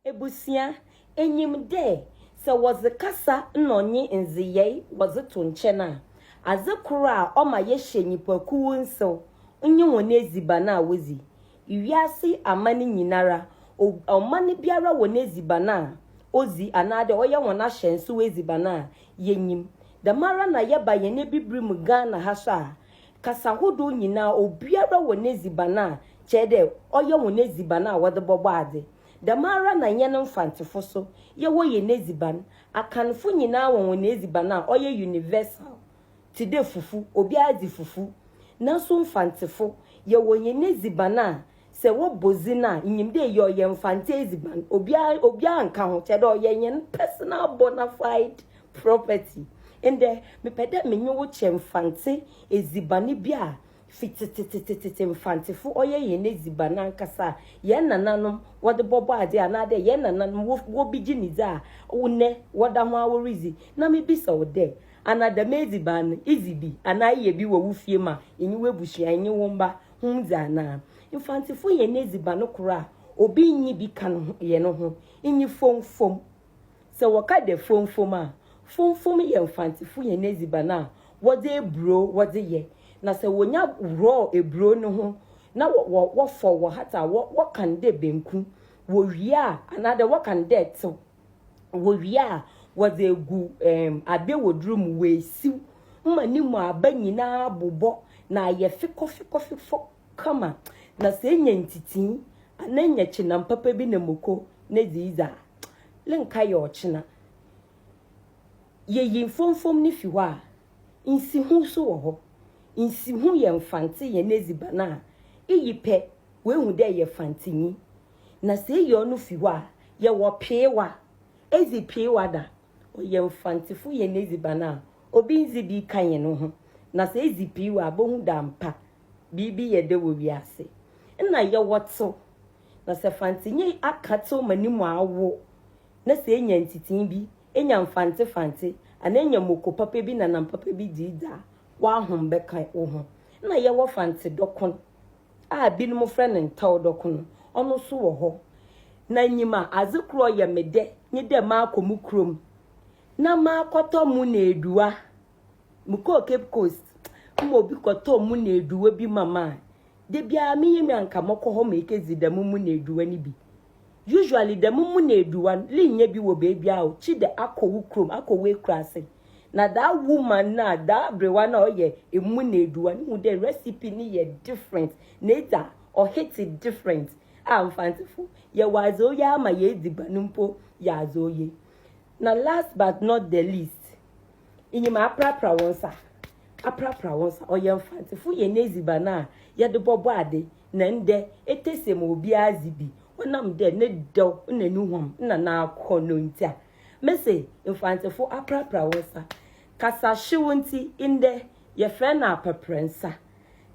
Ebusua, nyim dɛ sɛ wɔdze kasa na ɔnye ndzeyɛe wɔdze to nkyɛn a, adze kor a ɔma yɛhyɛ nyimpakuw nsew nye hɔn edziban a wodzi. Wiase aman nyinara, ɔman biara wɔ n'edziban a odzi anaadɛ ɔyɛ hɔn ahyɛnsew edziban a yenyim. Dɛmara na yɛba hɛn Ebibirmu Ghana ha so a, kasa horow nyina, obiara wɔ n'edziban a kyerɛ dɛ ɔyɛ hɔn edziban a wɔdze bɔbɔ adze. Dɛmara na hɛn Mfantsefo so yɛwɔ hɛn edziban. Akanfo nyina wɔ hɔn edziban a ɔyɛ universal tse dɛ fufu, obiara dzi fufu. Naaso Mfantsefo, yɛwɔ hɛn edziban a Sɛ wɔbɔ dzin a, inyim dɛ iyi ɔyɛ Mfantse edziban. Obiara obiara nnka ho, kyerɛ dɛ ɔyɛ hɛn personal bona fide property. Ndɛ, mepɛ dɛ menye wo kyɛ Mfantse edziban bi a fi tsetsetsetsetsetse Mfantsefo ɔyɛ hɛn edziban ankasa a hɛn nananom wɔdze bɔbɔ adze anaadɛ hɛn nananom wo wobi gye ne dzi a ndɛ wɔda ho ara woridzi. Na mibisa wo dɛ, ana dɛm edziban no idzi bi anaa eyɛ bi wɔ wo fie ma enye w'ebusua, enye wo mba? ho dze anaa? Mfantsefo hɛn edziban no kor a obi nnyi bi ka no hɛn ho nye fomfom. Sɛ wɔka dɛ fomfom a, fomfom yɛ Mfantsefo hɛn edziban a wɔdze eburow wɔdze yɛ, na sɛ wonya worɔw eburow no ho na wɔ wɔfɔw, wɔhata a, wɔka no dɛ banku, wowie a anaadɛ wɔka no dɛ tsew. Wowie a, wɔdze egu ɛɛm abewodur mu, woesiw ma no mu aba nyina bobɔ na ayɛ fekɔfekɔfefɔ kama. Na sɛ enya ntsitsii anaa enya kyenam papa bi na moko na edze dzi a, le nka yɛ ɔkyena. Yeyi mfomfom no fi hɔ a, nsiho so wɔ hɔ. Nsiho yɛ Mfantse hɛn edziban a iyi pɛ, woehu dɛ yɛ Mfantsenyi. Na sɛ eyi ɔno fi hɔ a, yɛwɔ peewa. Edzi peewa da. Ɔyɛ Mfantsefo hɛn edziban a obi nndzi bi ka hɛn ho. Na sɛ edzi peewa a, bohu dɛ ampa biribi yɛ dɛ wɔ wiadze. Nna yɛwɔ tsew. Na sɛ Fantsenyi akã tsew ma no mu awo, na sɛ enya ntsitsee bi, enya mfantsefantse, anaa enya moko papa bi na nam papa bi dze dzi a, w'ahom bɛkã woho. Nna yɛwɔ Fantsedɔkon. a binom frɛ no ntawdɔk no, ɔno so wɔ hɔ. Na nyim a, adze kor a ɔyɛ me dɛ nye dɛ makɔ mo kurom na makɔtɔ mo na eduwa. Mokɔɔ Cape Coast ma obi kɔtɔɔ mo na eduwa bi ma me a, da biara menye me a nka mɔkɔ hɔ mekedzi dɛm mo na eduwa no bi. Usually dɛm muna eduwa no li nnyɛ bi wɔ beebia o, kyi dɛ akɔ wo kurom, akɔ w'ekuraase. Na that woman no a, that aberewa no a ɔyɛ muna eduwa no hu dɛ recipe no yɛ different, n'edzi a, ɔhit different. Ah Mfantsefo, yɛwɔ adze oye ara ma hɛn edziban mpo yɛ adze oye. Na last but not the least. Inyim aprapra wo nsa. Aprapra wo nsa. Ɔyɛ Mfantsefo hɛn edziban a yɛdze bɔbɔ adze, na ndɛ etese ma obiara dzi bi ɔnam dɛ ne dɛw na no huam na n'akɔnnɔ ntsi a. Mese Mfantsefo aprapra wo nsa. Kasahyew ntsi ndɛ yɛfrɛ no apaprɛ nsa.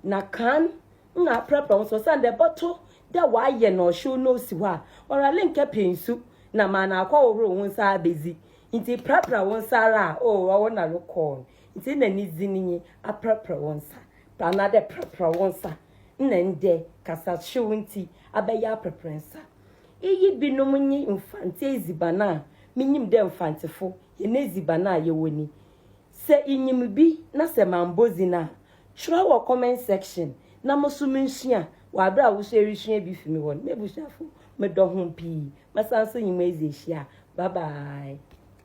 Na kan nna aprapra wo nsa osiandɛ ebɔto dɛ wɔayɛ na ɔhyew na osi hɔ a, ɔware nnkɛpɛ nsu na ma no akɔhohor wo nsa abedzi Ntsi prapra wo nsa ara a, oh, ɔwo na rokɔɔ no, ntsi nna ne dzin nye Aprapra Wo Nsa, anaadɛ Prapra Wo Nsa, nna ndɛ, kasahyew ntsi, abɛyɛ Aprapra Nsa. Iyi binom nye Mfantse edziban a minyim dɛ Mfantsefo hɛn edziban a yɛwɔ ni. Sɛ inyim bi na sɛ mammbɔ dzin a, Twerɛ wɔ comment section na mo so mensua wɔ aberɛ a woso ɛresua bi fi me hɔ no. M'abusuafo medɔ hom pii. Mɛsan so nye mo adzi ahyia. Bye bye.